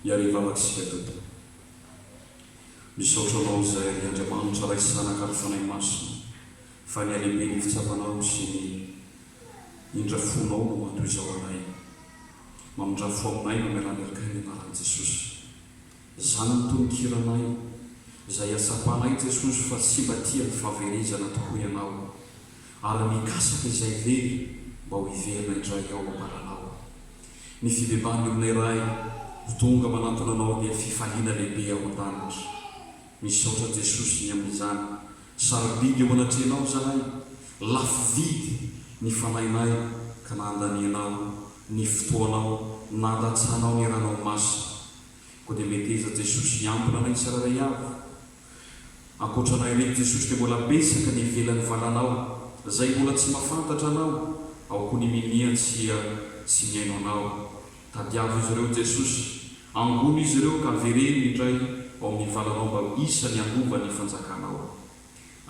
Iariva Matsika Dodo. Misaotra anao izay ry Andriamanitra Ray sy Zanaka ary Fanahy Masina fa ny halehiben'ny fitsapanao sy ny indra fonao no mandoa izao anay. Mamindrà fo aminay mamelà ny akay ny anaran'i Jesosy. Zany ny tononkiranay izay iatsapanay Jesosy fa tsy mba tia ny fahaverezana tokoa ianao. Ary mikasaka izay very mba ho hiverina indray ao am-baranao. Ny fibebahan'ny olona iray ho tonga manantona anao dia fifaliana lehibe ao an-danitra. Misaotra Jesosy ny amin'izany. Sarobidy eo anatrehanao izahay. Lafo vidy ny fanahinay ka nandanianao ny fotoanao, nandatsahanao ny ranao masina. Koa dia meteza Jesosy hiambina anay tsirairay avy. Ankoatra anay ireto Jesosy dia mbola betsaka ny ivelan'ny valanao izay mbola tsy mahafantatra anao ao koa ny minia tsia tsy mihaino anao Tadiavo izy ireo Jesosy Angono izy ireo ka avereno indray ao amin'ny valanao mba ho isany handova ny fanjakanao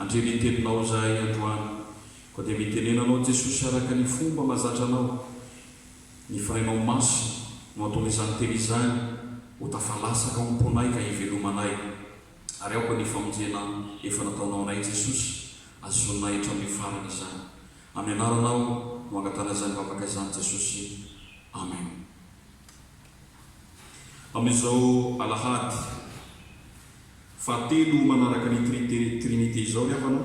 Andre ny teninao izahay androany koa dia mitenena anao Jesosy araka ny fomba mahazatra anao Ny firainao maso no ataon'izany teny izany ho tafalasaka ao am-ponay ka hivelomanay. Ary aoka ny famonjena efa nataonao anay Jesosy hazonay hatramin'ny farany izany. Amin'ny anaranao no angatahana izany vavaka izany Jesosy. Amen. Amin'izao alahady fahatelo manaraka ny Trite, Trinite, izao ry havana,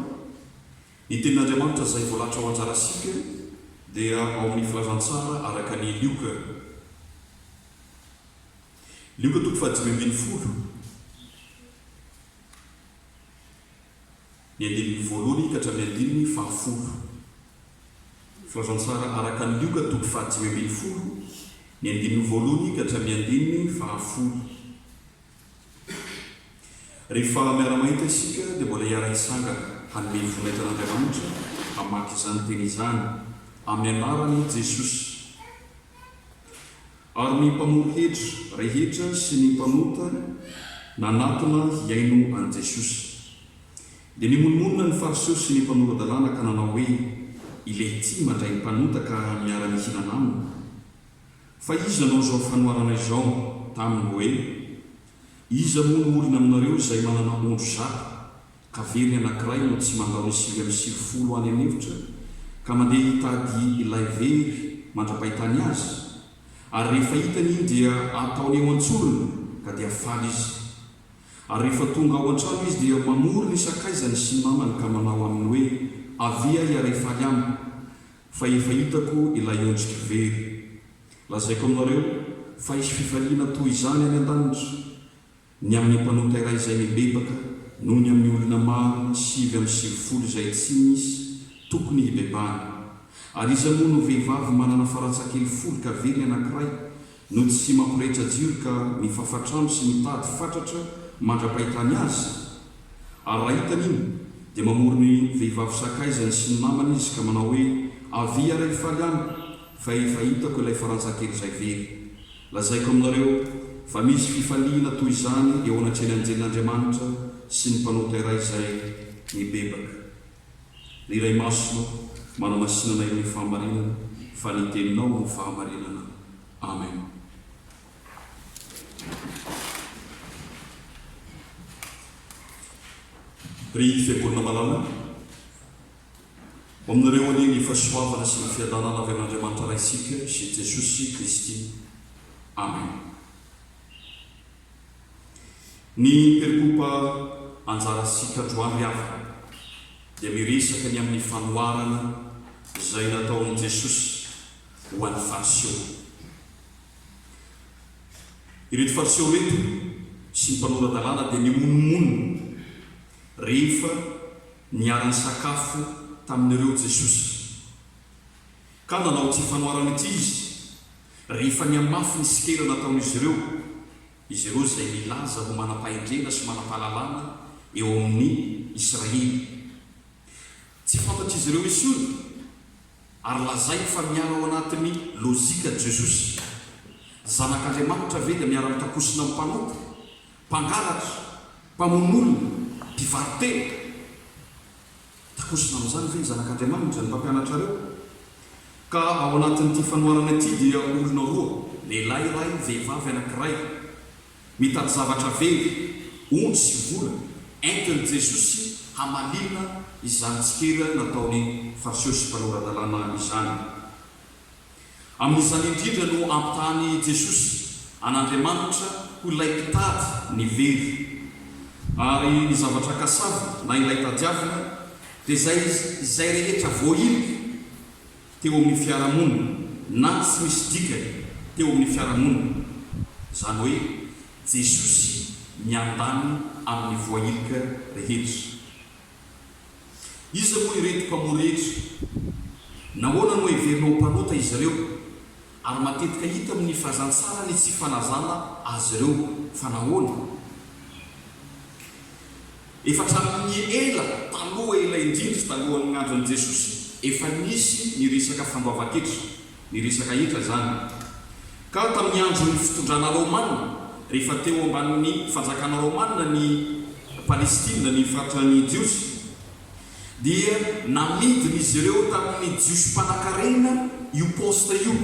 Ny tenin'Andriamanitra izay voalatra ho anjarantsika dia ao amin'ny Filazantsara araka ny Lioka, Lioka toko fahadimy ambin'ny folo, ny andininy voalohany ka hatramin'ny andininy fahafolo. Filazantsara araka ny Lioka toko fahadimy ambin'ny folo, ny andininy voalohany ka hatramin'ny andininy fahafolo. Rehefa miara-mahita isika dia mbola hiara-hitsangana hanome vola eto an'Andriamanitra hamaky izany teny izany amin'ny anaran'i Jesosy. Ary ny mpamory hetra rehetra sy ny mpanota nanatona hihaino an'i Jesosy. Dia nimonomonona ny Fariseo sy ny mpanora-dalàna ka nanao hoe, Ilay ity mandray ny mpanota ka miara-mihinana aminy. Fa iza anao izao fanoharana izao taminy hoe, Iza moa no olona aminareo izay manana ondry zato, ka very anankiray no tsy mandao ny sivy amby sivifolo any an'efitra, ka mandeha hitady ilay very mandra-pahitany azy? Ary rehefa hitany iny dia ataony eo an-tsorony, ka dia faly izy. Ary rehefa tonga ao an-trano izy dia mamory ny sakaizany sy ny namany ka manao aminy hoe, Avia hiaray faly amiko, Fa efa hitako ilay ondrik'i very. Lazaiko aminareo fa hisy fifaliana toy izany any an-danitra, ny amin'ny mpanota iray izay mibebaka noho ny amin'ny olona maro sivy amby sivifolo izay tsy misy tokony hibebahana. Ary iza moa no vehivavy manana faratsakely folo ka very anankiray No tsy mampirehetra jiro ka mifafa trano sy mitady fatratra mandra-pahitany azy? Ary raha hitany iny dia mamory ny vehivavy sakaizany sy ny namany izy ka manao hoe avia ary hifaly amiko fa efa hitako ilay faranjakely izay very. Lazaiko aminareo fa misy fifaliana toy izany eo anatrehan'ny anjelin'Andriamanitra sy ny mpanota iray izay mibebaka. Ny Iray Masina manamasinana ireo fahamarinana fa ny teninao no fahamarinana. Amen. Ry Fiangonana malala, ho aminareo anie ny fahasoavana sy ny fiadanana avy amin'Andriamanitra Raintsika sy Jesosy Kristy. Amen. Ny Percopa Anjara Sy Kadroan ry havana dia miresaka ny amin'ny fanoharana izay nataon'i Jesosy ho an'ny Fariseo. Ireto Fariseo ireto sy ny mpanora-dalàna dia nimonomonona rehefa niara-nisakafo tamin'ireo Jesosy. Ka nanao ity fanoharana ity izy, Rehefa nihamafy ny sikera nataon'izy ireo, izy ireo izay milaza ho manam-pahendrena sy manam-pahalalana eo amin'ny Israely, tsy fantatr'izy ireo intsony, ary lazainy fa miala ao anatin'ny lojika Jesosy. Zanak'Andriamanitra ve dia miara-mitakosina amin'ny mpanompo, mpangalatra, mpamono olona, mpivarotena? Takosona amin'izany ve ny Zanak'Andriamanitra, ny mpampianatrareo? Ka ao anatin'ity fanoharana ity dia olona roa, lehilahy iray, vehivavy anankiray, mitady zavatra very, ondry sy vola, entin'i Jesosy hamalinina izany tsikera nataon'ny Fariseo sy Mpanora-dalàna izany. Amin'izany indrindra no ampitahan'i Jesosy an'Andriamanitra ho ilay mpitady ny very. Ary ny zavatra kasavina, na ilay tadiavina, dia izay izay rehetra voahilika teo amin'ny fiarahamonina na tsy misy dikany teo amin'ny fiarahamonina, izany hoe Jesosy miandany amin'ny voahilika rehetra. Iza moa ireto mpamory ireto? Nahoana no heverina ho mpanota izy ireo? Ary matetika hita amin'ny filazantsara ny tsy fanazana azy ireo. Fa nahoana? Efa hatramin'ny ela taloha, ela indrindra talohan'ny andron'i Jesosy, efa nisy ny resaka fandoavan-ketra. ny resaka hetra izany. Ka tamin'ny andron'ny fitondrana Raomanina, rehefa teo ambanin'ny fanjakana Raomanina ny Palestina, ny faritra ny Jiosy, dia namidin'izy ireo tamin'ny Jiosy mpanankarena io poste io,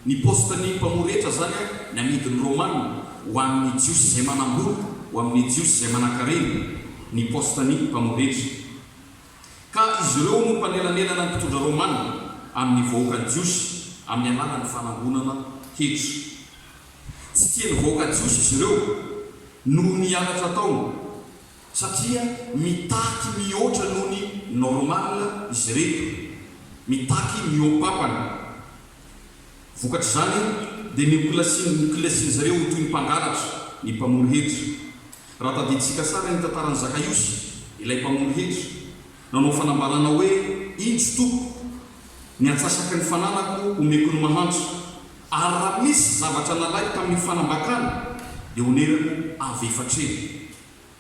ny poste ny mpamory hetra izany ny amidin'ny Raomanina ho an'ny Jiosy izay manam-bola, ho amin'ny Jiosy izay manankarena, ny poste ny mpamory hetra. Ka izy ireo no mpanelanelana ny mpitondra Romana amin'ny vahoakan'ny Jiosy amin'ny alalan'ny fanangonana hetra. Tsy tian'ny vahoaka Jiosy izy ireo noho ny halatra ataony, satria mitaky mihoatra noho ny normal izy ireto, mitaky mihoam-pampana. Vokatr'izany dia niokolasin'izy ireo ho toy ny mpangalatra ny mpamory hetra, Raha tadidintsika tsara ny tantaran'i Zakaiosy, ilay mpamono hetra, nanao fanambarana hoe, Indro, Tompo, ny antsasaky ny fananako omeko ny mahantra, ary raha misy zavatra nalaiko tamin'ny fanambakana, dia onerako avy efatreno.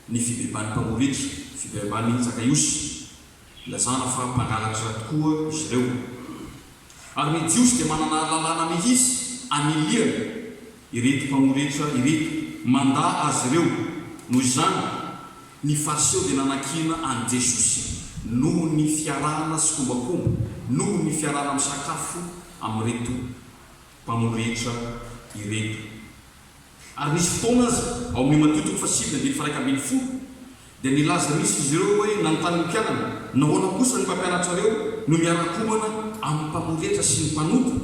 Ny fibeban'ny mpamono hetra, fibeban'i Zakaiosy, ilazana fa mpangalatra tokoa izy ireo. Ary ny Jiosy dia manana lalàna mihitsy anilihany Ireto mpamory hetra ireto mandà azy ireo. Noho izany, ny Fariseo dia nanakiana an'i Jesosy noho ny fiarahana sikombakomba, noho ny fiarahana misakafo amin'ireto mpamory hetra ireto. Ary nisy fotoana aza, ao amin'io Matio toko fahasivy andininy faha-iraika ambin'ny folo, dia nilaza mihitsy izy ireo hoe, Nanontany ny mpianany, Nahoana kosa ny mpampianatrareo no miara-komana amin'ny mpamory hetra sy ny mpanota?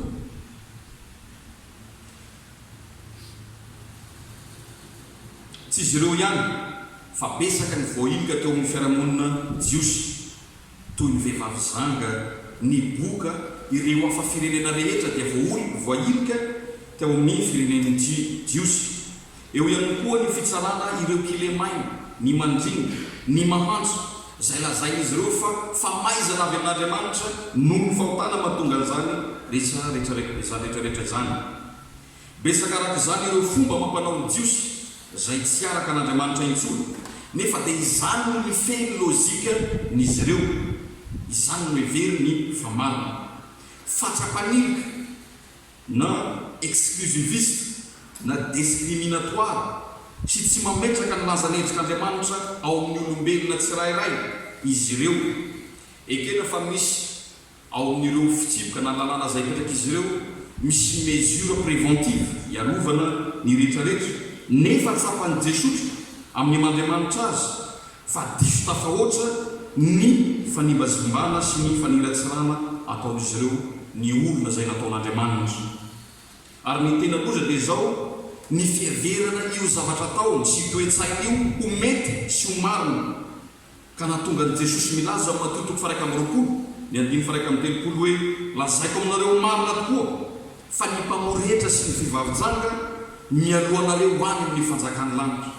Tsy izy ireo ihany fa betsaka ny voailika teo amin'ny fiarahamonina jiosy, toy ny vehivavy zanga, ny boka, ireo hafa firenena rehetra dia voailika teo amin'ny firenen'ny jiosy. Eo ihany koa ny fitsarana ireo kilemaina, ny mandringa, ny mahantra, izay lazain'izy ireo fa famaizana avy amin'Andriamanitra noho ny fahotana mahatonga an'izany rehetra rehetra izany. Betsaka araka izany ireo fomba amam-panao ny Jiosy izay tsy araka an'Andriamanitra intsony, nefa dia izany no mifehy ny lojikan'izy ireo, izany no heveriny fa marina. Fatra-panilika. na exclusiviste na discriminatoire sy tsy mametraka ny lazan'endrik'Andriamanitra ao amin'ny olombelona tsirairay izy ireo. Ekena fa misy ao amin'ireo fitsipika na lalàna izay apetrak'izy ireo misy mesure préventive hiarovana ny rehetrarehetra, nefa tsapan'i Jesotra amin'ny maha Andriamanitra Azy fa diso tafahoatra ny fanimbazimbana sy ny faniratsirana ataon'izy ireo ny olona izay nataon'Andriamanitra. Ary ny tena loza dia izao, ny fiheverana io zavatra ataony sy toe-tsainy io ho mety sy ho marina, ka nahatonga an'i Jesosy milaza ao Matio toko faharaika amby roapolo ny andininy faharaika amby telopolo hoe, Lazaiko aminareo marina tokoa, fa ny mpamory hetra sy ny vehivavy janga mialoha anareo any amin'ny fanjakan'ny lanitra.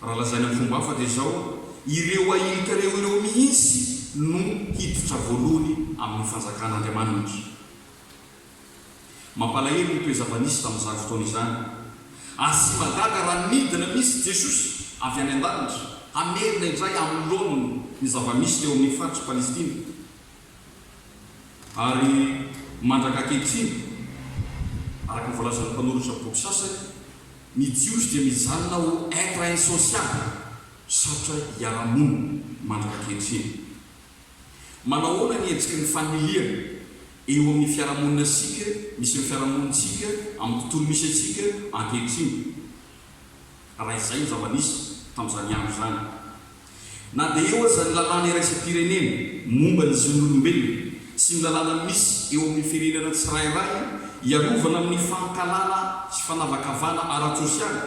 Raha lazaina amin'ny fomba hafa dia izao, ireo ahilika leo ireo mihitsy no hiditra voalohany amin'ny fanjakan'Andriamanitra. Mampalahelo ny toe-java-nisy tamin'izany fotoana izany. Asia-mahagaga raha nidina mihitsy Jesosy avy any an-danitra hamerina indray amin'ny laoniny ny zava-misy teo amin'ny faritry Palestina. Ary mandraka ankehitriny, araka ny voalazan'ny mpanoratra boky sasany, ny Jiosy dia mijanona ho être insociable, sarotra hiara-monina, mandraka ankehitriny. Manao ahoana ny hetsiky ny fanilihana eo amin'ny fiarahamoninasika, misy amin'ny fiarahamonintsika, amin'ny tontolo misy antsika ankehitriny, raha izay no zava-nisy tamin'izany andro izany? Na dia eo aza ny lalàna iraisam-pirenena momba ny zon'olombelona sy ny lalàna misy eo amin'ny firenena tsirairay hiarovana amin'ny fankahalana sy fanavakavahana ara-tsosialy,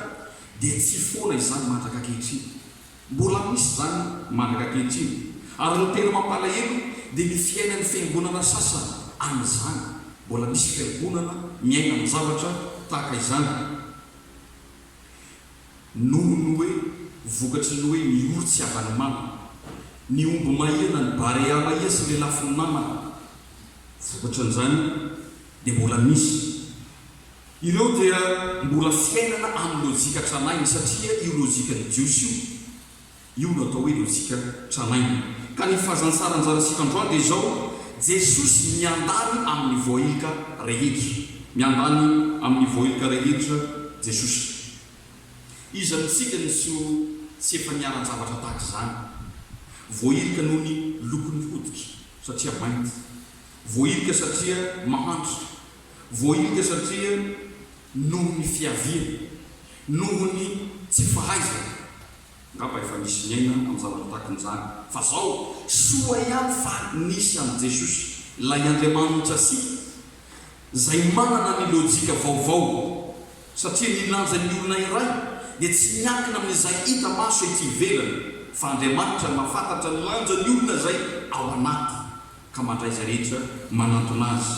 dia tsy foana izany mandrak'ankehitriny. Mbola misy izany mandrak'ankehitriny, ary ny tena mampalahelo dia ny fiainan'ny fiangonana sasany amin'izany. Mbola misy fiangonana miaina amin'ny zavatra tahaka izany. noho ny hoe vokatry ny hoe miory tsy havan'ny mama, ny omby mahia na ny barea mahia sy lelafin'ny mama. Vokatry an'izany dia mbola misy. Ireo dia mbola fiainana amin'ny lojika tranainy satria io lojikan'ny Jiosy io. Io no atao hoe lojika tranainy. Ka ny fahazantsaran'zarasika androany dia izao, Jesosy miandany amin'ny voahilika rehetra. Miandany amin'ny voahilika rehetra Jesosy. Iza amintsika no tsy ho tsy efa niharan-javatra tahaka izany. Voahilika noho ny lokon'ny hoditra, satria mainty. Voahilika satria mahantra. Voahilika satria noho ny fiaviany. Noho ny tsy fahaizany. Ngamba efa nisy niaina am zavatra tahakan'izany fa zao? Soa ihany fa nisy an'i Jesosy, ilay Andriamanitrantsika, izay manana ny lojika vaovao, satria ny lanjan'ny olona iray dia tsy miankina amin'izay hita maso ety ivelany, fa Andriamanitra no mahafantatra ny lanjan'ny olona izay ao anaty. ka mandray izay rehetra manantona azy.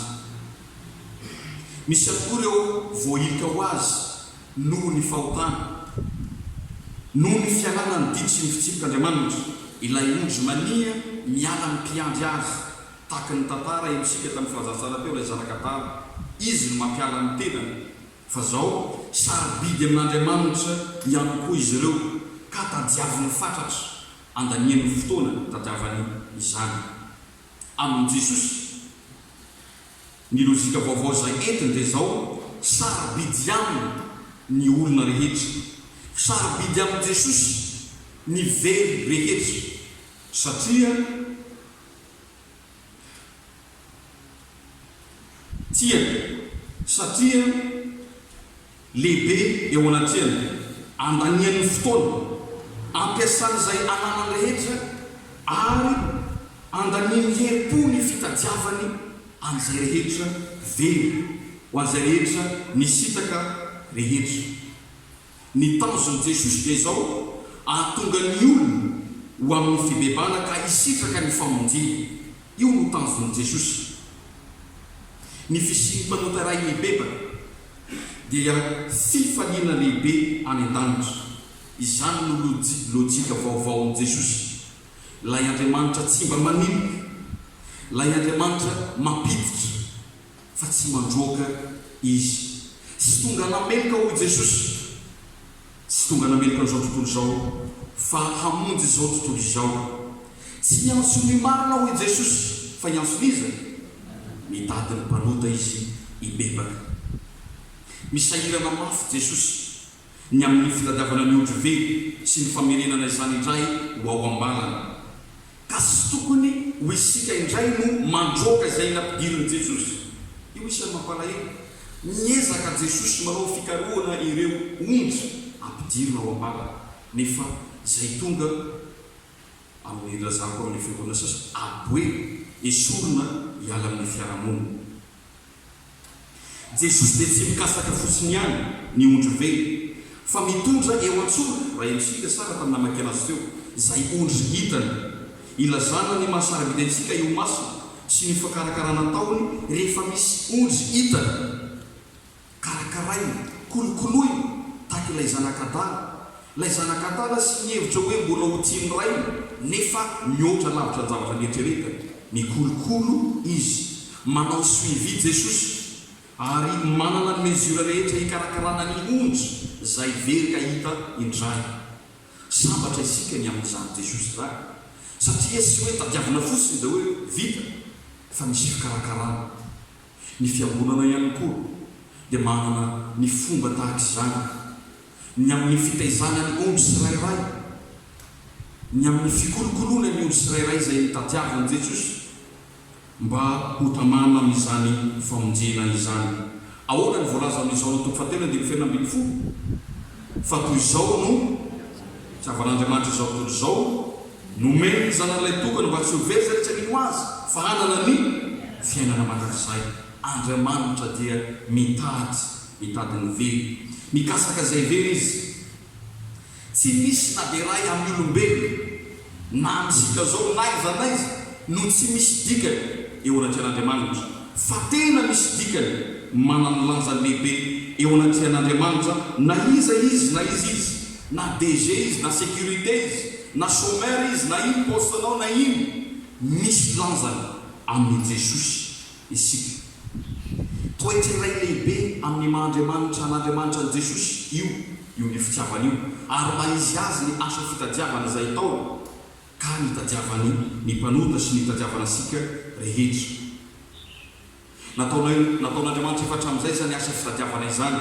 Misy ihany koa ireo voahilika ho azy noho ny fahotana. Noho ny fialana ny didy sy ny fitsipik'Andriamanitra, ilay ondry mania miala ny mpiandry azy, tahaka ny tantara henontsika tamin'ny filazantsara teo ilay zanaka adala, izy no mampiala ny tenany, fa zao sarobidy amin'Andriamanitra ihany koa izy ireo ka tadiaviny fatratra. andaniany fotoana tadiavany izany. Amin'i Jesosy, ny lojika vaovao izay entiny dia izao, Sarobidy aminy ny olona rehetra. Sarobidy amin'i Jesosy ny very rehetra, satria Tiany, satria lehibe eo anatreany. Andaniany ny fotoana, ampiasany izay ananany rehetra, ary andaniany herim-po ny fitadiavany an'izay rehetra very, ho an'izay rehetra nisitraka rehetra. Ny tanjon'i Jesosy dia izao, hahatonga ny olona ho amin'ny fibebahana ka hisitraka ny famonjena. Io no tanjon'i Jesosy. Ny fisian'ny mpanota iray mibebaka dia fifaliana lehibe any an-danitra. Izany no loji, lojika vaovaon'i Jesosy. Ilay Andriamanitra tsy mba maninona. Ilay Andriamanitra mampiditra. fa tsy mandroaka izy. Tsy tonga nameloka, hoy Jesosy, tsy tonga nameloka an'izao tontolo izao, fa hamonjy izao tontolo izao. Tsy hiantso ny marina, hoy Jesosy, fa hiantso ny iza? Ny Dadin'ny mpanota izy hibebaka. Misahirana mafy Jesosy ny amin'ny fitadiavana ny otrively sy ny famerenana izany indray ho ao am-balany. Ka tsy tokony ho isika indray no mandroaka izay nampidirin'i Jesosy? Io isan'ny mampalahelo. Miezaka Jesosy manao fikarohana ireo ondry ampidirina ao am-bavany, nefa izay tonga, amin'ny ilazako amin'ny fiangonana sasany, aboe, esorina hiala amin'ny fiarahamonina. Jesosy dia tsy mikasaka fotsiny ihany ny ondry very fa mitondra eo an-tsoa raha henontsika sa raha namaky anazy teo izay ondry hitany. Ilazana ny maha sarobidy antsika eo masina sy ny fakarakarana ataony rehefa misy ondry hitany. Karakaraina, kolokoloina tahaka ilay zanak'adala, ilay zanak'adala sy ny hevitra hoe mbola ho tian'ny rainy nefa mihoatra lavitra ny zavatra nieritreretany. Mikolokolo izy. Manao suivi Jesosy ary manana ny mesure rehetra hikarakarana ny ondry zay very ka hita indray. Sambatra isika ny amin'izany Jesosy izany satria tsy hoe tadiavina fotsiny de hoe vita fa misy fikarakarana. Ny fiangonana ihany koa dia manana ny fomba tahaka izany ny amin'ny fitaizana ny ondry tsirairay, ny amin'ny fikolokoloana ny ondry tsirairay izay nitadiavin'i Jesosy. Mba ho tamana amin'izany famonjena izany, ahoana ny voalaza amin'izao ny toko fahatelo andininy fahefatra ambin'ny folo? Fa toy izao no hitiavan'Andriamanitra izao tontolo izao, nomeny ny Zanany Ilay Tokana mba tsy ho very izay tsy mino Azy, fa hanana ny fiainana mandrakizay. Andriamanitra dia mitady, mitady ny very. Mikasaka izay very Izy. Tsy misy na dia iray amin'ny olombelona, na amintsika izao, n'aiza n'aiza, no tsy misy dikany eo anatrehan'Andriamanitra, fa tena misy dikany manan'ny lanjany lehibe eo anatrehan'Andriamanitra na iza izy na iza izy, na DG izy na sécurité izy, na chômeur izy, na ino paostenao na ino, misy lanjany amin'i Jesosy. isika. Toetry ny Ray lehibe amin'ny maha Andriamanitra an'Andriamanitra an'i Jesosy io io ny fitiavana io ary maha izy azy ny asa fitadiavana izay ataony ka nitadiavany ny mpanota sy nitadiavana antsika rehetra. Nataonay nataon'Andriamanitra efa hatramin'izay izany asa fitadiavana izany.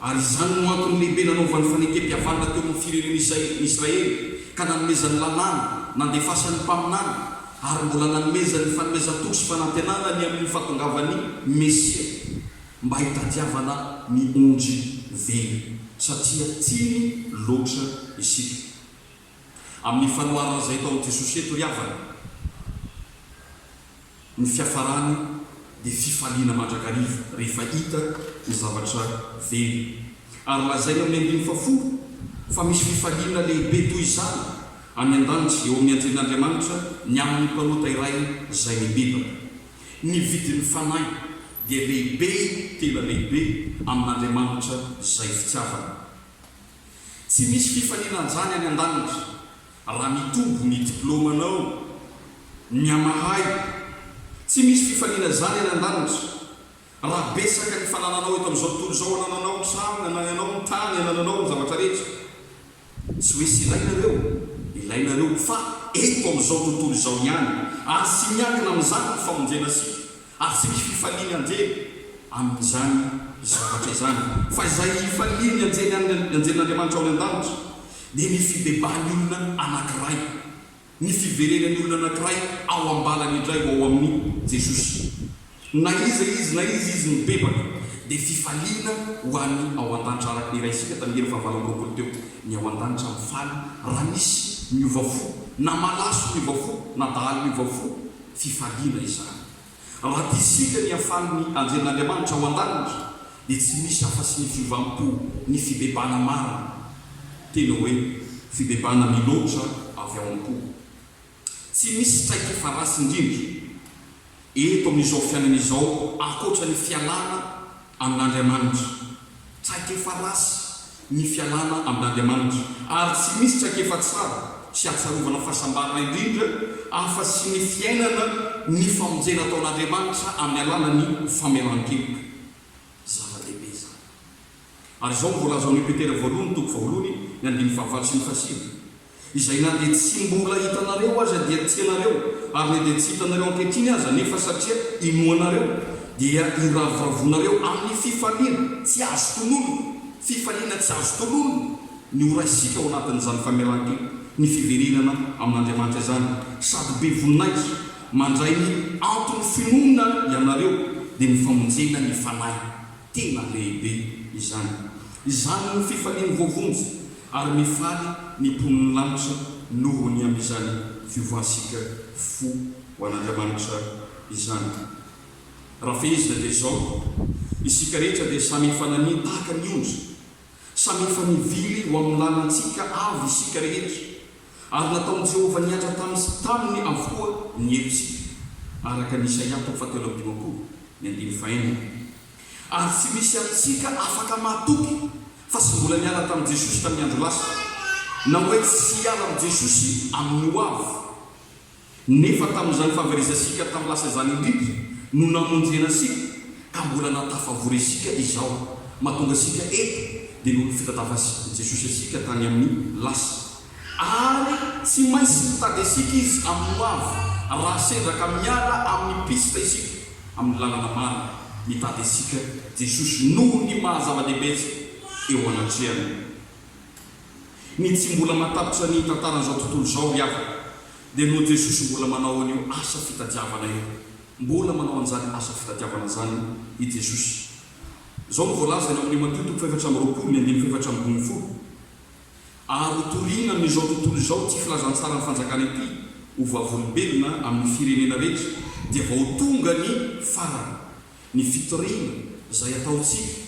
Ary izany no antony lehibe nanaovany fanekem-pihavanana teo amin'ny firenena izay ny Israely, ka nanomezany lalàna, nandefasany mpaminany, ary mbola nanomezany fanomezan-toky sy fanantenana ny amin'ny fahatongavan'ny Mesia, mba hitadiavana ny ondry velona, satria tiany loatra isika. amin'ny fanoharana izay ataon'i Jesosy eto ry havana, ny fiafarany dia fifaliana mandrakariva rehefa hita ny zavatra very. Ary lazaina amin'ny andininy fahafolo fa misy fifaliana lehibe toy izany any an-danitra eo amin'ny Andrian'Andriamanitra ny amin'ny mpanota iray izay mibebaka. Ny vidin'ny fanahy dia lehibe tena lehibe amin'Andriamanitra izay fitiavana. Tsy misy fifaninanjana any an-danitra raha mitombo ny diplaomanao, mihamahay. Tsy misy fifanina izany any an-danitra raha betsaka ny fanananao eto amin'izao tontolo izao, anananao ny trano, anananao ny tany, anananao ny zavatra rehetra. Tsy hoe tsy ilainareo, ilainareo fa eto amin'izao tontolo izao ihany, ary tsy miankina amin'izany ny famonjena sipa, Ary tsy misy fifalian'ny anjely amin'izany zavatra izany, fa izay ifalian'ny anjely an, ny anjelin'Andriamanitra ao any an-danitra, dia ny fibebahan'ny olona anankiray, ny fiverenan'ny olona anankiray ao am-balany indray ho ao amin'i Jesosy. Na iza izy, na iza izy mibebaka, dia fifaliana ho any ao an-danitra, araka ny iraisika tamin'ny hera fahavalo amby roapolo teo, ny ao an-danitra mifaly raha misy miova fo, na malaso miova fo, na dahalo miova fo, Fifaliana izany. Raha tia isika ny hafalin' ny anjelin' Andriamanitra ao an-danitra, dia tsy misy afa-tsy ny fiovam-po, ny fibebana marina, tena hoe fibebana miloatra avy ao am-po. Tsy misy traikefa ratsy indrindra eto amin' izao fiainana izao ankoatra ny fialana Amin'Andriamanitra. Traikefa ratsy ny fialana amin'Andriamanitra, ary tsy misy traikefa tsara sy ahatsiarovana fahasambarana indrindra afa tsy ny fiainana ny famonjena ataon'Andriamanitra amin'ny alalan'ny famelan-keloka. Zava-dehibe izany. Ary izao no voalazan'io Petera voalohany toko faharoany ny andininy fahavaly sy ny fahasivy, izay na dia tsy mbola hitanareo aza dia tianareo, ary na dia tsy hitanareo ankehitriny aza nefa satria inoanareo dia iravoravoanareo amin'ny fifaliana tsy azo tononina, fifaliana tsy azo tononina ny ho raisika ao anatin'izany famelan-keloka ny fiverenana amin'Andriamanitra izany, sady be voninahitra mandray ny anton'ny finoana ianareo dia ny famonjena ny fanahy. Tena lehibe izany. Izany no fifalian'ny voavonjy, ary mifaly ny mponin'ny lanitra noho ny amin'izany fiovantsika fo ho an'Andriamanitra izany. Raha fehezina dia izao, Isika rehetra dia samy efa naniry tahaka ny ondry Samy efa nivily ho amin'ny lalantsika avy isika rehetra, ary nataon'i Jehovah nihatra tany sy taminy avokoa ny helotsika, araka ny Isaia toko fahatelo amby dimampolo, ny andininy fahenina. Ary tsy misy amintsika afaka mahatoky fa tsy mbola niala tamin'i Jesosy tamin'ny andro lasa, na hoe tsy hiala amin'i Jesosy amin'ny hoavy. Nefa tamin'izany fahaverezantsika tamin'ny lasa izany indrindra no namonjena antsika ka mbola nahatafavory antsika izao. Mahatonga antsika eto dia noho ny fitatavan'i Jesosy antsika tany amin'ny lasa. Ary tsy maintsy mitady antsika Izy amin'ny hoavy raha sendra ka miala amin'ny piste isika, amin'ny lalana marina. Mitady antsika Jesosy noho ny maha-zava-dehibe antsika eo anatrehany. Ny tsy mbola mahatapitra ny tantaran'izao tontolo izao ry havana dia noho Jesosy mbola manao an'io asa fitadiavana io. Mbola manao an'izany asa fitadiavana izany i Jesosy. Izao no voalazany ao amin'ny Matio toko fahefatra amby roapolo ny andininy fahefatra ambin' ny folo, Ary ho toriana amin'izao tontolo izao ity filazantsaran'ny fanjakana ity ho vavolombelona amin'ny firenena rehetra, dia vao tonga ny farany, ny fitoriana izay hataontsika.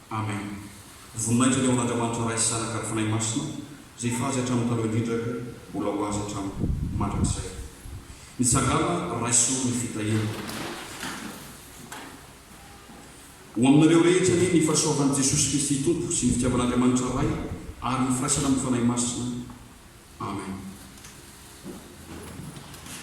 Amen Voninahitra ny ao An'Andriamanitra Ray sy Zanaka ary Fanahy Masina izay efa azy hatramin'ny taloha indrindra ary mbola ho azy hatramin'ny mandrakizay. Mitsangàna raiso ny fitahiana ho aminareo rehetra anie ny fahasoavan'i Jesosy Kristy Tompo sy ny fitiavan'Andriamanitra Ray ary ny firaisana amin'ny Fanahy Masina. Amen.